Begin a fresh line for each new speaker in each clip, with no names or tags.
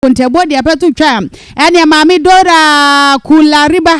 nkontaabuo deɛ pɛto twa ɛneɛ maame Dora Kulariba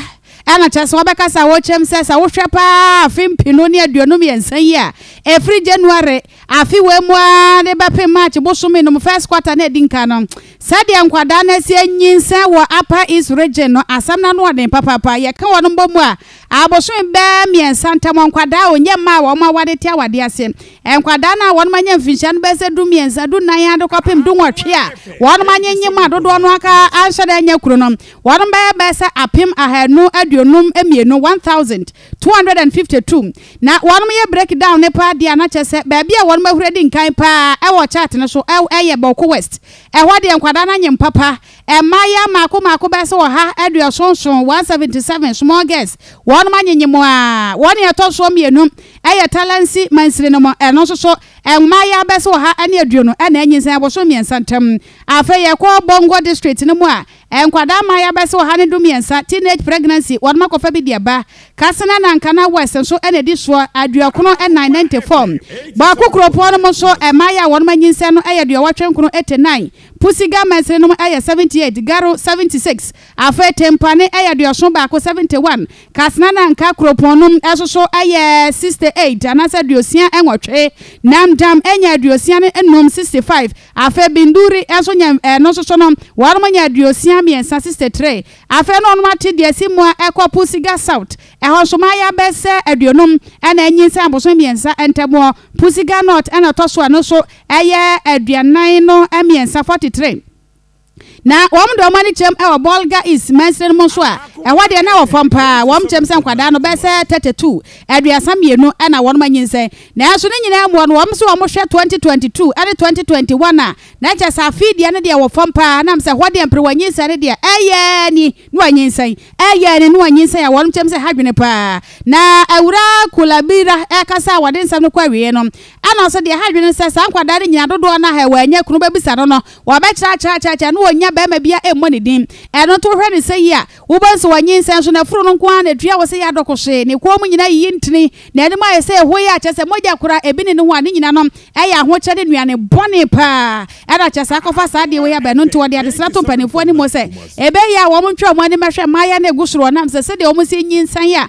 ɛna kyɛ sɛ wɔbɛka sɛ wɔkyɛm sɛ sɛ wohwɛ paa afe mpenu ne aduonu mmiɛnsa yi a ɛfiri January afe wɔ mu a ne bɛpem March bosome nom first quarter na ɛdi nka no sɛdeɛ nkwadaa no asie nyinsɛn wɔ Upper East region no asɛm no ano ɔden papaapa yɛka wɔn mbɔ mu a Abosome bɛyɛ mmiɛnsa ntam, nkwadaa a wɔnyɛ mma a wɔn aware te awadeɛ ase, nkwadaa no a wɔn anya mfinhyia no bɛyɛ sɛ du mmiɛnsa, du nnan ara de kɔpem du nwɔtwe a wɔn anyenyem a dodoɔ no ara anhyɛ da nyɛ koro no, wɔn bɛyɛ bɛyɛ sɛ apem ahanu aduonum mmienu, 1,252. Na wɔn yɛ break down no paa deɛ a na kyerɛ sɛ baabi a wɔn ahuri adi nkan paa wɔ chart no so yɛ Bawku West, ɛhɔ deɛ nkwadaa no anyem papa, Mmayeaa mmaako mmaako bɛyɛ sɛ ɔha aduɔson nson, 177, small girls, wɔnom anyenye mu ara. Wɔn nea ɛtɔ soɔ mmienu yɛ Talansi mansini no mu, ɛno nso so mmayeaa bɛyɛ sɛ ɔha ne aduonu na anyinsɛn abosome mmiɛnsa ntam. Afei yɛkɔ Bongo District no mu a, nkwadaa mmayeaa bɛyɛ sɛ ɔha ne du mmiɛnsa, teenage pregnancy, wɔnom akɔfa bi de aba. Katsina na Nkana West nso na ɛdi soɔ, aduɔkono nnan, 94. Bawku kuropɔn no mu nso, mmayeaa a wɔnom anyinsɛn no yɛ aduɔwɔtwe nkono, 89. Pusiga mɛnsere nom yɛ 78, Garo 76, afei Tempane yɛ aduɔson baako, 71, Kasena na Nka kuropɔn nom nsoso yɛ 68 anaasɛ aduosia nwɔtwe, Nam Dam nya aduosia ne nnum, 65, afei Binduri nso nya ɛno nsoso no wɔnom nya aduosia mmiɛnsa, 63, afei na wɔnom ate deɛ ɛsi Mua kɔ Pusiga South, ɛhɔ nso mmayewa bɛsɛ aduonum na anyinsɛn abosome mmiɛnsa ntamuɔ, Pusiga North na ɛtɔ so a ɛno nso ɛyɛ aduanan no mmiɛnsa, forty three. Na wɔn de wɔn ani kyerɛm wɔ Bolga East mansini no mu nso a, ɛhɔ deɛ na ɛwɔ fam paa. Wɔn kyerɛm sɛ nkwadaa no bɛyɛ sɛ thirty two, aduasa mmienu, na wɔn anyinsɛn. Nanso ne nyinaa mu no, wɔn se wɔhwɛ twenty twenty two ne twenty twenty one a, na kyerɛ sɛ afe yi deɛ no deɛ ɛwɔ fam paa, nam sɛ ɛhɔ deɛ mperewa nyinsɛn no deɛ ɛyɛ ni na wɔanyinsɛn, ɛyɛ ni na wɔanyinsɛn a wɔn kyerɛm sɛ ha dwene paa. Na Awuraa Kulabira rekasa a wɔde nsɛm no kɔ awieɛ no, Ɛno nso deɛ ɛha adwene ne sɛ saa nkwadaa no nyinaa dodoɔ no ara a wɔannya kunu bɛbisa no no, wɔbɛkyerɛ akyerɛ akyerɛ akyerɛ na wɔnnya barima biara mmɔ ne din. Ɛno nti wohwɛ no sɛ yie a, wobɛhu sɛ ɔnyinsɛn nso n'afuru no nko ara na ɛtua wɔ sɛ yɛ adɔkohwee, ne kɔn mu nyinaa yiyi ntini, n'anim ayɛ sɛ ɛhoeɛ a kyerɛ sɛ mogya koraa ɛbi nni ne ho a ne nyinaa no yɛ ahokyerɛ ne nnuane bɔne pa ara. Ɛna kyerɛ sɛ akɔfa saa adeɛ wei aba. Ɛno nti wɔde adesrɛ to mpanimfoɔ no mu sɛ ɛbɛyɛ a wɔntwe wɔn ani mmɛhwɛ mmaeɛ no a ɛgu soro ɔnam sɛ sɛdeɛ wɔsi nyinsɛn a,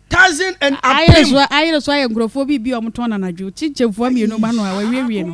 Tazin
and Apim. Ayere so ayere
so ayɛ nkurɔfoɔ
biribi
a wɔtɔn no anadwo. Kyinkyin
fua
mmienu ma no a wawiewie
no.